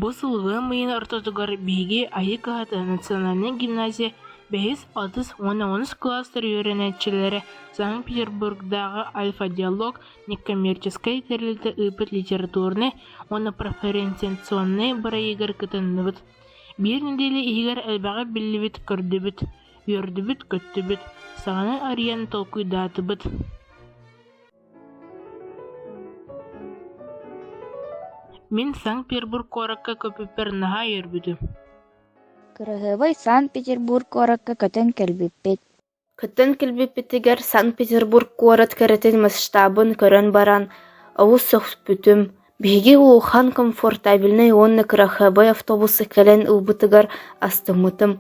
Бу сылгы мыйын ортотугар биһиги Айыы кыһатын национальнай гимназия бэһис, отуз уонна онус кылаастар үөрэнээччилэрэ Санкт-Петербургдааҕы альфа-диалог неккоммерческай тэрилтэ ыыппыт литературнай уонна профориентационнай бырайыгар кытынныбыт Биир нэдиэлэ иһигэр элбэҕи биллибит, көрдүбүт, үөрдүбүт-көттүбүт, саҥаны арыйан толкуйдаатыбыт Мин Санкт-Петербург куоракка көппүппэр наһаа үөрбүтүм. Кыраһыабай Санкт-Петербург куоракка көтөн кэлбиппит Кыттан кэлбиппитигэр Санкт-Петербург куорат кэрэтин масштабын көрөн баран, олус сөхпүтүм, биһиги улахан комфортабельнай уонна кыраһыабай автобуска кэлэн ылбытыгар астыммытым,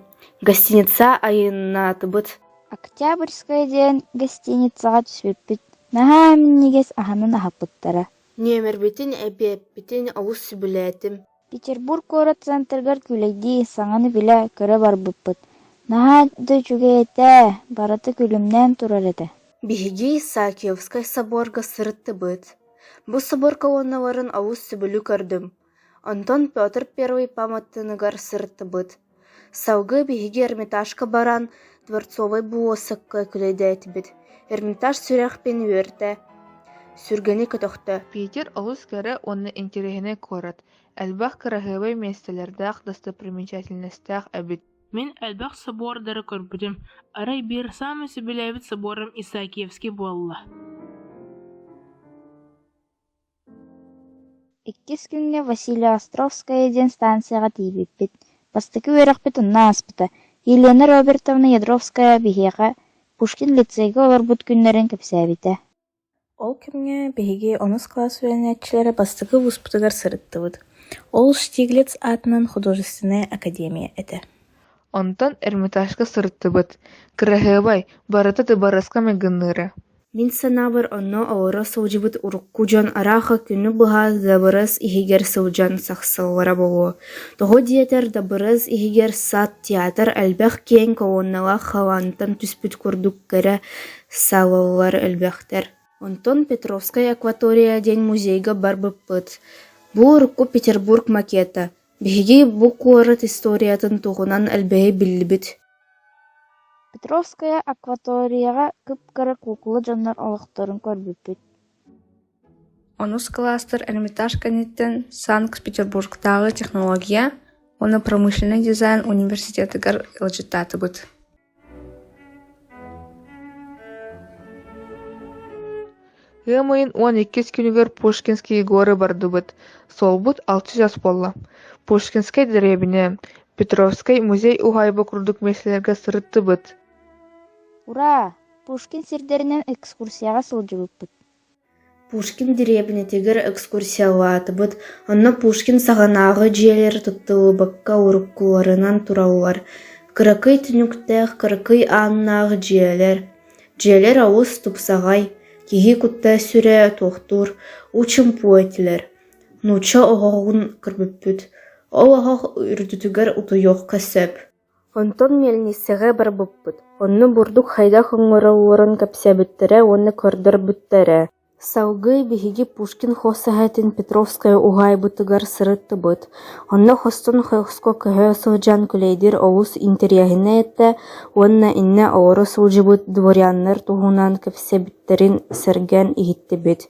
гостиница айаннаатыбыт Октябрьская диэн гостиницаҕа түспүппүт, наһаа минньигэс аһынан аһаппыттара. Нүөмэрбитин, эбээппитин олус сөбүлээтим Петербург куорат центрыгар күүлэйдии, саҥаны билэ, көрө барбыппыт: «Наһаа да үчүгэй этэ, барыта күлүмнээн турар этэ» Биһиги Саакьевскай соборга сырыттыбыт. Бу соборга уонналарын олус сөбүлүү көрдүм. Онтон Петр I пааматтааныгар сырыттыбыт. Салгыы биһиги Эрмитажка баран, Дворцовай буоссакка күлэйдээтибит, Эрмитаж сүрэхпин үөртэ, сүргэни көтөхтө Питер олус кэрэ уонна интэриэһинэй куорат, элбэх кыраһыабай миэстэлэрдээх достопримечательностаах эбит. Мин элбэх собуордары көрбүтүм, арай биир саамай сөбүлээбит собуорум Исаакиевский буолла. Иккис күҥҥэ Василиостровская диэн станцияҕа тиийбиппит, бастакы үөрэхпит онно ааспыта, Елена Робертовна Ядровская биһиэхэ Пушкин лицейга олорбут күннэрин кэпсээбитэ Ол кэмҥэ биһиги онус кылаас үөрэнээччилэрэ бастакы улууспутугар сырыттыбыт. Ол Штиглиц аатынан художественнай академия этэ. Онтон Эрмитажка сырыттыбыт. Кыраһыабай, барыта Тыбарыска майгынныыра Мин санаабар, онно олоро сылдьыбыт урукку дьон ыраахха күнү быһа дабырыс иһигэр сылдьан сахсаллара буолуо, тоҕо диэтэр дабырыс иһигэр сад, театр элбэх киэҥ колонналаах халаантан түспүт курдук кэрэ салаллар элбэхтэр. Онтон Петровскай акватория диэн музейга барбыппыт. Бу урукку Петербург макета. Биһиги бу куорат историятын туһунан элбэҕи биллибит Петровская акваторияҕа кып-кыра куукула дьоннор олохторун көрбүппүт Онус кылаастыр Эрмитаж кэнниттэн Санкт-Петербургтааҕы технология уонна промышленнай дизайн университетыгар ыалдьыттаатыбыт ыам ыйын уон иккис күнүгэр Пушкинские горы бардыбыт, суолбут алта чаас буолла. Пушкинскай дэриэбинэ, Петровскай музей уһаайба курдук миэстэлэргэ сырыттыбыт. «Ура! Пушкин сирдэринэн экскурсияҕа сылдьыбыппыт» Пушкин дэриэбинэтигэр экскурсиялаатыбыт, онно Пушкин саҕанааҕы дьиэлэр туттуллубакка уруккуларынан тураллар. Кыракый түнүктээх, кыракый ааннаах дьиэлэр, Дьиэлэр олус тупсаҕай, киһи кутта-сүрэ туохтуур учумпу этилэр, нуучча оһоҕун көрбүппүт, ол оһох үрдүтүгэр утуйуохха сөп онтон мельницаҕа барбыппыт онно бурдук хайдах оҥороллорун кэпсээбиттэрэ уонна көрдөрбүттэрэ Салгыы биһиги Пушкин хос эһэтин Петровская уһаайбытыгар сырыттыбыт, онно хостон хоско көһө сылдьан кулейдир олус интэриэһинэй этэ уонна иннэ олоро сылдьыбыт дворяннар туһунан кэпсэбиттэрин сэргэн иһиттибит.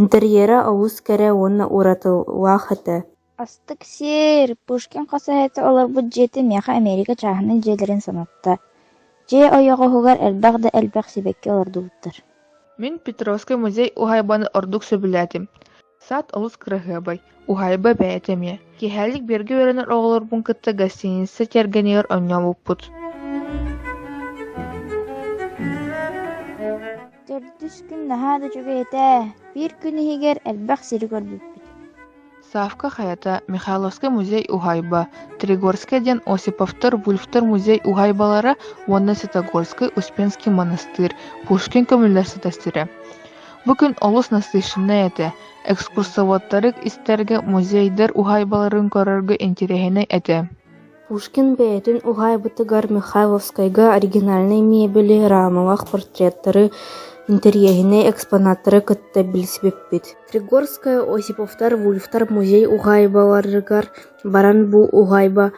Интерьерэ олус кэрэ уонна уратылаах этэ Астык сиэр, Пушкин хасаһыата олорбут дьиэтэ миэхэ Эмиэрикэ чааһынай дьиэлэрин санатта, дьиэ ойоҕоһугар элбэх да элбэх сибэкки олордубуттар Мин Петровский музей уһаайбаны ордук сөбүлээтим. Сад олус кыраһыабай, уһаайба бэйэтэ эмиэ. Киэһээлик биэргэ үөрэнэр оҕолорбун кытта гостиница тиэргэнигэр онньообуппут. Төрдүс күн наһаа да үчүгэй этэ, биир күн иһигэр элбэх сири көрбүппүт Савка хайата Михайловскай музей уһаайба, Тригорскай диэн Осиповтор, Вульфтор музей уһаайбалара уонна Святогорскай Успенский монастырь, Пушкин көмүллэр ситастирэ. Бу күн олус насыщеннай этэ. Экскурсоводтары истэргэ музейдар уһаайбаларын көрөргө интириэһинэй этэ. Пушкин бэйэтин уһаайбытыгар Михайловскайга оригинальнай миэбэли, раамалаах портреттары, интэриэһинэй экспонаттары кытта билсибиппит. Тригорская Осиповтар Вульфтар музей уһаайбаларыгар баран бу уһаайба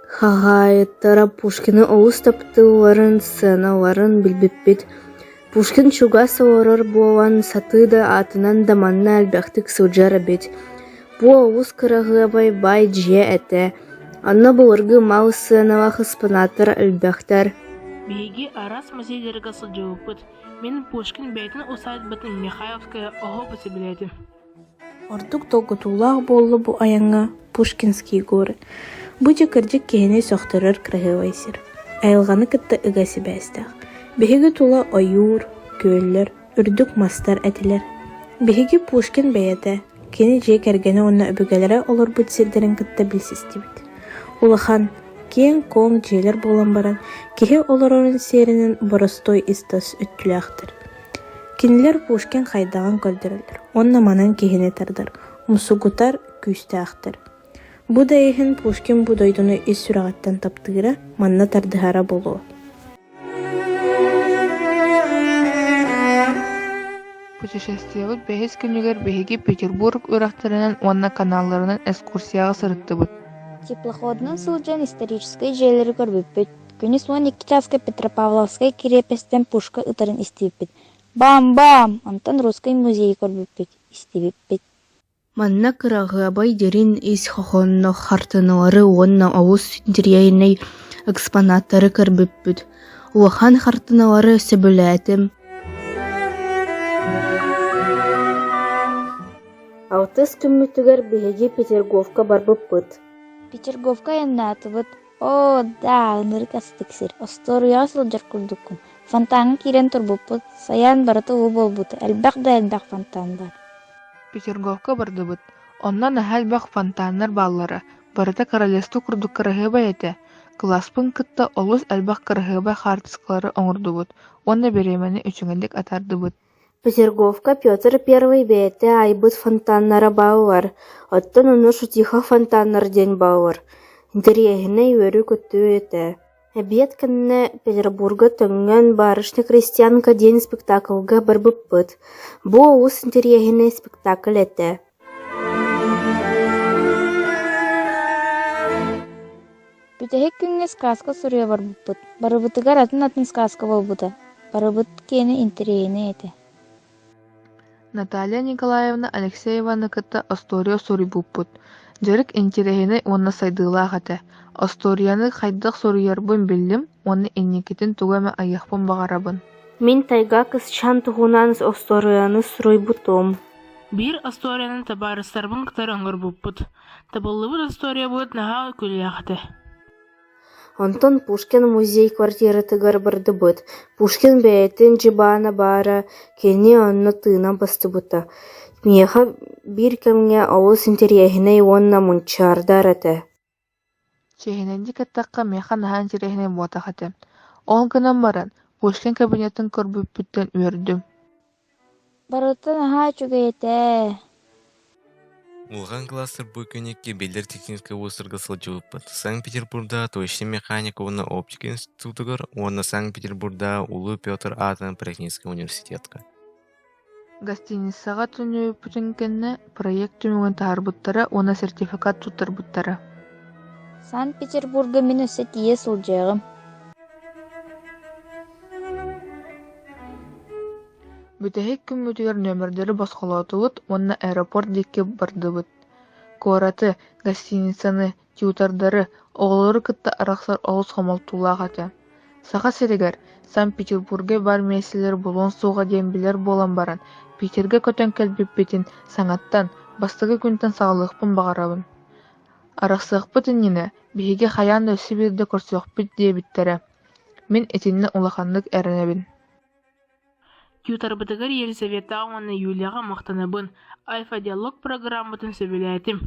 хаһаайыттара Пушкины олус таптыылларын, сценаларын билбиппит. Пушкин чугас олорор буолан, сатыы да аатынан да манна элбэхтик сылдьар эбит. Бу олус кыраһыабай баай дьиэ этэ. Онно былыргы мал сыаналаах экспонааттар элбэхтэр. Биһиги араас музейдэргэ сылдьыбыппыт. Мин Пушкин бэйэтин усаадьбатын Михайловская оһо бэсэбилээтим Ордук долгутуулаах буолла бу айаҥҥа Пушкинский горы. Бу дьэ кырдьык киһини сөхтөрөр кыраһыабай сир. Айылҕаны кытта ыга сибээстээх. Биһиги тула ойуур, күөллэр, үрдүк мастар этилэр. Биһиги Пушкин бэйэтэ, кини дьиэ кэргэнэ уонна өбүгэлэрэ олорбут сирдэрин кытта билсистибит. Улахан, киэҥ-куоҥ дьиэлэр буолан баран, киһи олорорун сиэринэн боростой ис-тас өттүлээхтэр. Кинилэр Пушкин хайдаҕын көрдөрөллөр уонна манан киһини тардар, мусугутар күүстээхтэр. Бу да иһин Пушкин бу дойдуну ис сүрэҕиттэн таптыыра, манна тардыһара буолуо Путешествиебыт бэһис күнүгэр биһиги Петербург үрэхтэринэн уонна каналларынан экскурсияҕа сырыттыбыт. Теплоходунан сылдьан историческай дьиэлэри көрбүппүт. Күнүс уон икки чааска Петропавловскай кириэпэстэн пушка ытарын истибиппит. «Баам-баам!» Онтон Русский музей көрбүппүт, истибиппит Манна кыраҕыабай дириҥ ис хоһоонноох хартыыналары уонна олус интириэһинэй экспонаттары көрбүппүт. Улахан хартыыналары сөбүлээтим. Алтыс күммүтүгэр биһиги Петергофка барбыппыт. Петергофка айаннаатыбыт, оо даа ынырык астык сир остуоруйаҕа сылдьар курдуккун фонтаҥҥа киирэн турбуппут сайаан барыта уу буолбута элбэх да элбэх фонтан баар петергофка бардыбыт онно наһаа элбэх фонтаннар бааллара барыта королевство курдук кыраһыабай этэ кылааспын кытта олус элбэх кыраһыабай хаартыскалары оҥордубут уонна бириэмэни үчүгэйдик атаардыбыт Петерговка Петр I бэйэтэ айбыт фонтаннара бааллар, оттон ону Шутихов фонтаннар диэн бааллар. Интэриэһинэй үөрүү-көтүү этэ. Эбиэт кэннэ Петербурга Төҥҥөн «Барышня крестьянка» диэн спектаклга барбыппыт. Бу олус интэриэһинэй спектакль этэ. Бүтэһик күҥҥэ сказка суруйа барбыппыт. Барыбытыгар атын-атын сказка буолбута. Барыбыт киэнэ интэриэһинэй этэ. Наталья Николаевна Алексееваны кытта остуоруйа суруйбуппут. Дьарык интириэһинэй уонна сайдыылаах этэ. Остуоруйаны хайдах суруйарбын биллим уонна инникитин тугу эмэ айыахпын баҕарабын. Мин тайга кысчан туһунан остуоруйаны суруйбутум. Биир остуоруйаны табаарыстарбын кытары оҥорбуппут. Табыллыбыт остуоруйабыт наһаа үкүлээх этэ. Онтон Пушкин музей квартиратыгар бардыбыт. Пушкин бэйэтин дьыбаана баара, кини онно тыынан быстыбыта. Миэхэ биир кэмҥэ олус интэриэһинэй уонна мунчаардар этэ Чиэһинэнди кэттэххэ миэхэ наһаа интэриэһинэй буотах этэ, ол гынан баран Пушкин кабинетын көрбүппүттэн үөрдүм Барыта наһаа үчүгэй этэ Улахан классыр бу күннэки биллэр техническай уустарга сылдьыбыппыт. Санкт-Петербурда точно механика уонна оптика институтугар уонна Санкт-Петербурда Улуу Петр аатынан Паракинский университетка. Гостиницаҕа төннүбүппүтүн кэннэ проект түмүгүн таһаарбыттара уонна сертификат туттарбыттара Санкт-Петербурга мин өссө тиийэ сылдьыаҕым Бүтэһик күммүтүгэр нөмердэри босхолоотубут уонна аэропорт диэки бардыбыт. Куораты, гостиницаны, Чуутардары, оҕолору кытта арахсар олус хомолтолоох этэ. Саха сиригэр, Санкт-Петербурга баар миэстэлэр булуон суоҕа диэн билэр буолан баран, Питергэ көтөн кэлбиппитин саҥаттан, бастакы күнтэн саҕалыахпын баҕарабын. Арахсыахпыт иннинэ биһиги хайаан да өссө биирдэ көрсүөхпүт диэбиттэрэ. Мин итиннэ улаханнык эрэнэбин Юторбутугар Елизавета уонна Юлияҕа махтанабын, альфа-диалог программатын сөбүлээтим.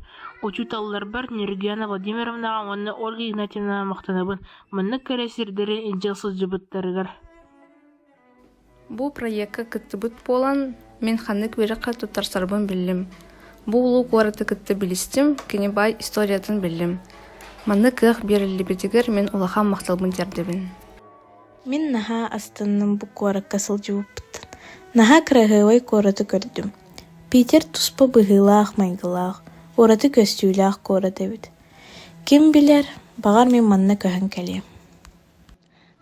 Учууталларбар Нергиана Владимировнаҕа уонна Ольга Игнатьевнаҕа махтанабын. Маннык кэрэ сирдэрин илдьэ сылдьыбыттарыгар Бу проекка кыттыбыт буолан, мин ханнык үөрэххэ туттарсарбын биллим. Бу улуу куораты кытта билистим, кини баай историятын биллим. Маннык кыах биэриллибитигэр мин улахан махталбын тиэрдэбин. Мин наһаа астынным бу куоракка сылдьыбыппыттан. Наһаа кыраһыабай куораты көрдүм. Питер туспа быһыылаах-майгылаах, ураты көстүүлээх куорат эбит. Ким билэр, баҕар мин манна көһөн кэлиэм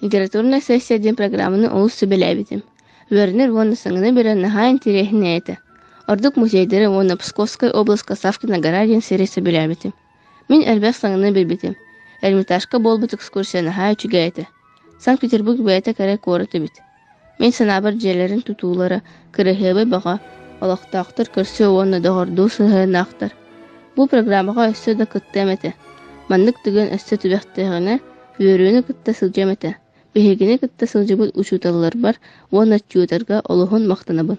Литературная сессия диэн программаны олус сүбэлээбитим. Үөрэнэр уонна саҥаны билэр наһаа интириэһинэй этэ. Ордук музейдары уонна Псковскай обласка Савкина-Гарадин сири сөбүлээбитим. Мин элбэх саҥаны билбитим. Эрмитажка буолбут экскурсия наһаа үчүгэй этэ. Санкт-Петербург бэйэтэ кэрэ куорат эбит. Мин санаабар дьиэлэрин тутуулара, кыраһыабай баҕа, олохтоохтор көрсүө уонна доҕордуу сыһыаннаахтар. Бу программаҕа өссө да кыттыам этэ. Маннык түгэн өссө түбэхтээҕинэ, үөрүүнү кытта сылдьыам этэ. Биһигини кытта сылдьыбыт учууталларбар уонна тьюторга олуһун махтанабын.